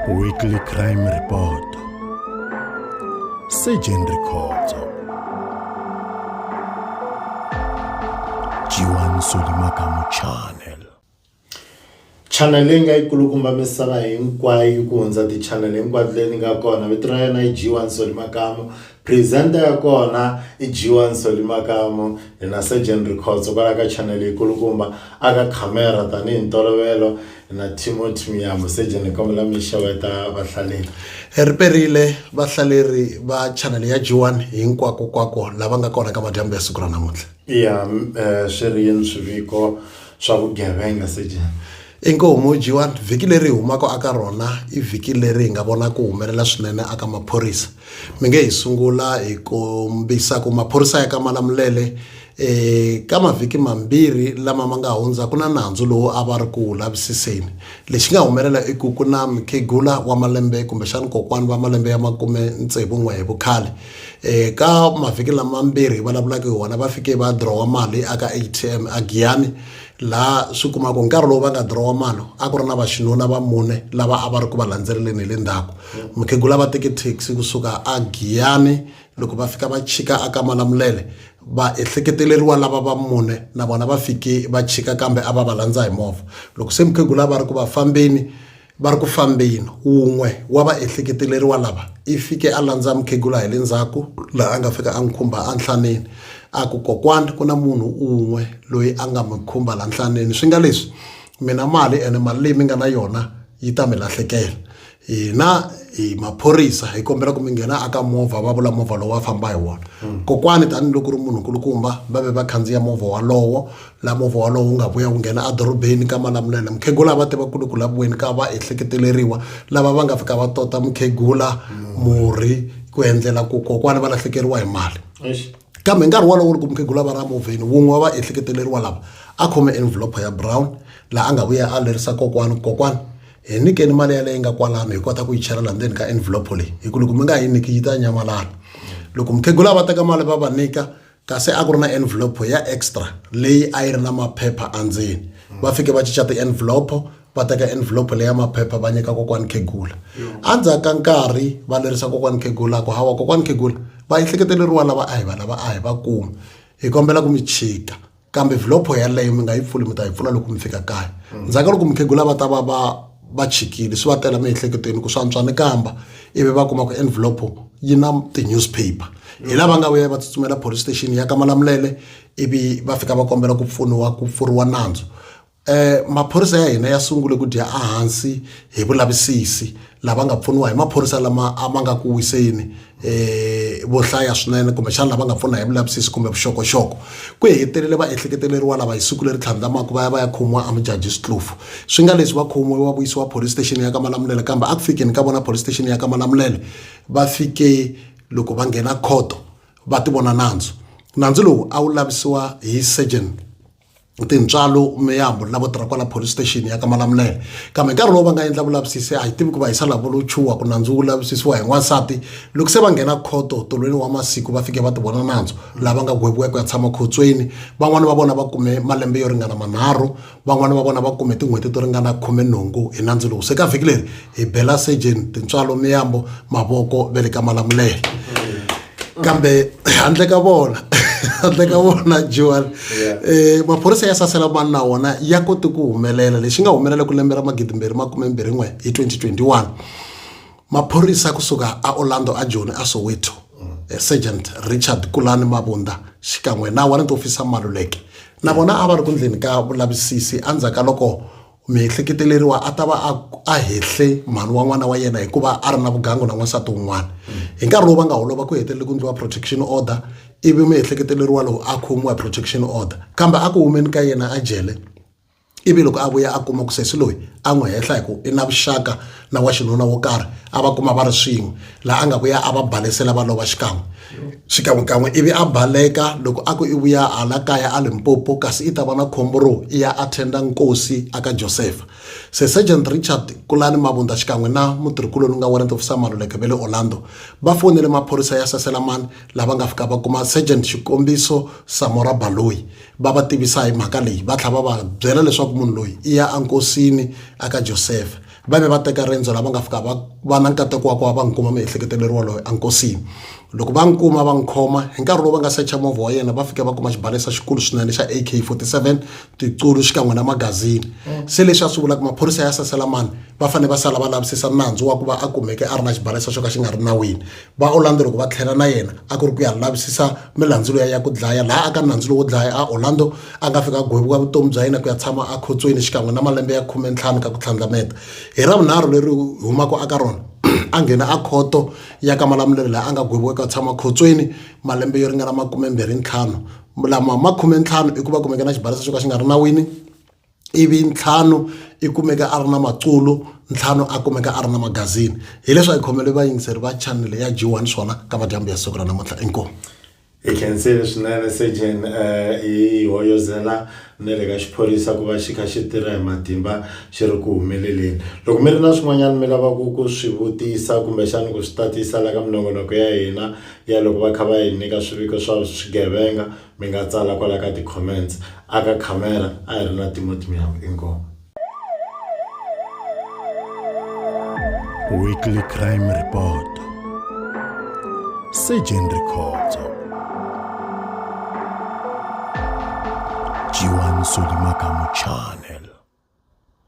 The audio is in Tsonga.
Weekly Crime Report Surgeon Rikhotso Jiwan Solimakamu Channel channel leyi nga yi kulukumba misava hinkwayo yi ku hundza ti-channel hinkwato leyi ni nga kona vito ra yena yi G1 Solimakamu Presenter ya kona i G1 Nsoli Makamu, hi na Surgeon Rikhotso kwala ka channel yi kulukumba, a ka camera tani hi ntolovelo hi na Timothy Miyambo. Surgeon hi kombela mi xeweta vahlaleri. Hi riperile vahlaleri va channel ya G1 hinkwako kwako lava nga kona ka madyambu ya siku ra namuntlha. Iya, swi ri yini swiviko swa vugevenga Surgeon? Inkomu Mojiwan, vhiki leri hi humaka aka rona i vhiki leri hi nga vona ku humelela swinene aka maphorisa. Mi nge hi sungula hi kombisa ku maphorisa ya ka Malamulele eh, ka mavhiki mambirhi lama ma nga hundza ku na nandzu lowu a va ri ku wu lavisiseni. Lexi nga humelela i ku ku na mukhegula wa malembe kumbexani kokwani va malembe ya makume tsevu n'we hi vukhale. Eh, ka mavhiki lamambirhi hi vulavulaka hi wona va fike va dirowa mali aka ATM a Giyani laha swi kumaka hi nkarhi lowu va nga dirowa mali a ku ri na vaxinuna va mune lava a va ri ku va landzeleleni hi le ndzhaku mukhegula va teke taxi kusuka a giyani loko va fika va chika a ka malamulele va ehleketeleriwa lava va mune na vona va fike va chika kambe a va va landza hi movha loko se mukhegula a va ri ku va fambeni Va ri ku fambeni, wun'we wa vaehleketeleriwa lava i fike a landza mukhegula hi le ndzhaku laha a nga fika a n'wi khumba enhlaneni a ku, Kokwani ku na munhu un'we loyi a nga mi khumba laha nhlaneni. Swi nga leswi, mi na mali ene mali leyi mi nga na yona yi ta mi lahlekela. Hina hi maphorisa hi kombela ku mi nghena aka movha, va vula movha lowu va famba hi wona. Kokwani tanihiloko ku ri munhu nkulukumba va ve va khandziya movha wolowo. la movha wolowo wu nga vuya wu nghena edorobeni ka malamulele mukhegula a va tiva ku ri ku laviweni ka va ehleketeleriwa lava va nga fika va tota mukhegula murhi ku endlela ku kokwana va lahlekeriwa hi mali kambe nkarhi wolowo loko mukhegula va ra movheni wun'we wa va ehleketeleriwa lava a khome envelope ya brown laha a nga vuya a lerisa kokwana kokwana hi nyikeni mali yaleyi nga kwalano hi kota ku yi chela laha ndzeni ka envelope leyi hi ku loko mi nga yi nyiki yi ta nyamalala loko mukhegula va teka mali va va nyika kasi a ku ri na envelope ya extra leyi a yi ri na maphepha endzeni va fike va cinca ti-envelope va teka envelope leya maphepha va nyika kokwani khegula endzhaku ka nkarhi va lerisa kokwani khegula ku hawa kokwani khegula va ehleketeleriwa lava a hi va lava a hi va kuma hi kombela ku mi chika kambe vhilopho yaleyo mi nga yi pfuli mi ta yi pfula loko mi fika kaya ndzhaku ka loko mukhegula va ta va va va chikile swi va tela miehleketweni ku swantswa ni kamba ivi va kuma ku envelope yi na ti-newspaper hi lava nga vuya va tsutsumela police station ya ka malamulele ivi va fika va kombela ku pfuniwa ku pfuriwa nandzu eh maphorisa ya hina ya sungule ku dya ehansi hi vulavisisi lava nga pfuniwa hi maphorisa lama a ma nga ku wiseni um vo hlaya swinene kumbexana lava nga pfuna hi vulavisisi kumbe vuxokoxoko ku hetelele va ehleketeleriwa lava hi siku leri tlhandlamaka va ya va ya khomiwa amujaji switlufu swi nga leswi va khomiwe va vuyisiwa police station ya ka malamulele kambe a ku fikeni ka vona police station ya ka malamulele va fike loko va nghena khoto va ti vona nandzu nandzu lowu a wu lavisiwa hi surgeon tintswalo miyambo lavo tirha kwala police station ya ka malamulele kambe nkarhi lowu va nga endla vulavisisi a hi tivi ku va hisa lavo lo chuwa ku nandzu wu lavisisiwa hi n'wansati loko se va nghena khoto tolweni wa masiku va fike va ti vona nandzu lava nga gweviwa ku ya tshama khotsweni van'wani va vona va kume malembe yo ringana manharhu van'wani va vona va kume tin'hweti to ringana khume nhungu hi nandzu lowu se ka vhiki leri hi bela surgeon tintswalo miyambo mavoko ve le ka malamulele kambe handle ka vona handle ka vona joan um maphorisa ya sasela mani na wona ya kote ku humelela lexi nga humelela ku lembe ra magidimbirhi makumembirhi n'we hi 2021 maphorisa kusuka a orlando a joni a soweto eh, sergeant richard kulani mavunda xikan'we na warrant officer maluleke na vona a va ri ku ndleni ka vulavisisi endzhaku ka loko muehleketeleri wa a ta va a a hehle mhani wa n'wana wa yena hikuva a ri na vugangu na n'wansati wun'wana hi nkarhi lowu va nga holova ku hetelele ku endliwa protection order ivi muehleketeleri walowo a khomiwa protection order kambe a ku humeni ka yena a jele ivi loko a vuya a kuma ku sesi loyi a n'wi hehla hi ku i na vuxaka na wa xinuna wo karhi a va kuma va ri swin'we laha a nga ku ya a va balesela va lova xikan'we xikan'wekan'we ivi a baleka loko a ku i vuya hala kaya a limpopo kasi i ta va na khombo ro i ya attenda nkosi aka josefa se sergeant richard kulani mavunda xikan'we na mutirhikuloni nga warrant officer maluleke ve le orlando va fonele maphorisa ya saselamani lava nga fika va kuma sergeant xikombiso samora baloyi va va tivisa hi mhaka leyi va tlhela va va byela leswaku munhu loyi i ya enkosini aka josefa va ve va teka riendzo lava nga fika va va na nkateko wa ku va va n'wi kuma miehleketeleriwa waloye enkosini loko va n'wi kuma va n'wi khoma hi nkarhi lowu va nga secha movha wa yena va fika va kuma xibalesa xikulu swinene xa ak 47 tiqulu xikan'we na magazini mm. se leswi a swi vulaka maphorisa ya sasela mani va fanele va sala va lavisisa nandzu wa ku va a kumeke a ri na xibalesa xo ka xi nga ri nawini va orlando loko va tlhela na yena a ku ri ku ya lavisisa milandzu leya ya ku dlaya laha aka nandzu lowo dlaya a orlando a nga fika gwevuka vutomi bya yena ku ya tshama ekhotsweni xikan'we na malembe ya khume ntlhanu ka ku tlhandlameta hi ra vunharhu leri humaka aka rona a nghena a khoto ya ka malamulelo laha a nga gweviwa ku ya tshama khotsweni malembe yo ringana makume mbirhi ntlhanu lama makhume ntlhanu i ku va kumeke na xibalesa xo ka xi nga ri nawini ivi ntlhanu i kumeka a ri na maculo ntlhanu a kumeka a ri na magazini hileswi a hi khomele vayingiseri va chanele ya g one swona ka madyambu ya siku ra namuntlha inkomu hi khensile swinene sejen um eh, hi hoyozela na le ka xiphorisa ku va xi kha xi tirha hi matimba xi ri ku humeleleni loko mi ri na swin'wanyana mi lavaka ku swi vutisa kumbexani ku swi tatisa la ka minongonoko ya hina ya loko va kha va hi nyika swiviko swa swigevenga Mi nga tsala kwala ka ti-comments a ka khamera a hi ri na Timothy Muyambo inkomu. Weekly Crime Report Surgeon Rikhotso Jiwan Sodimakamu Channel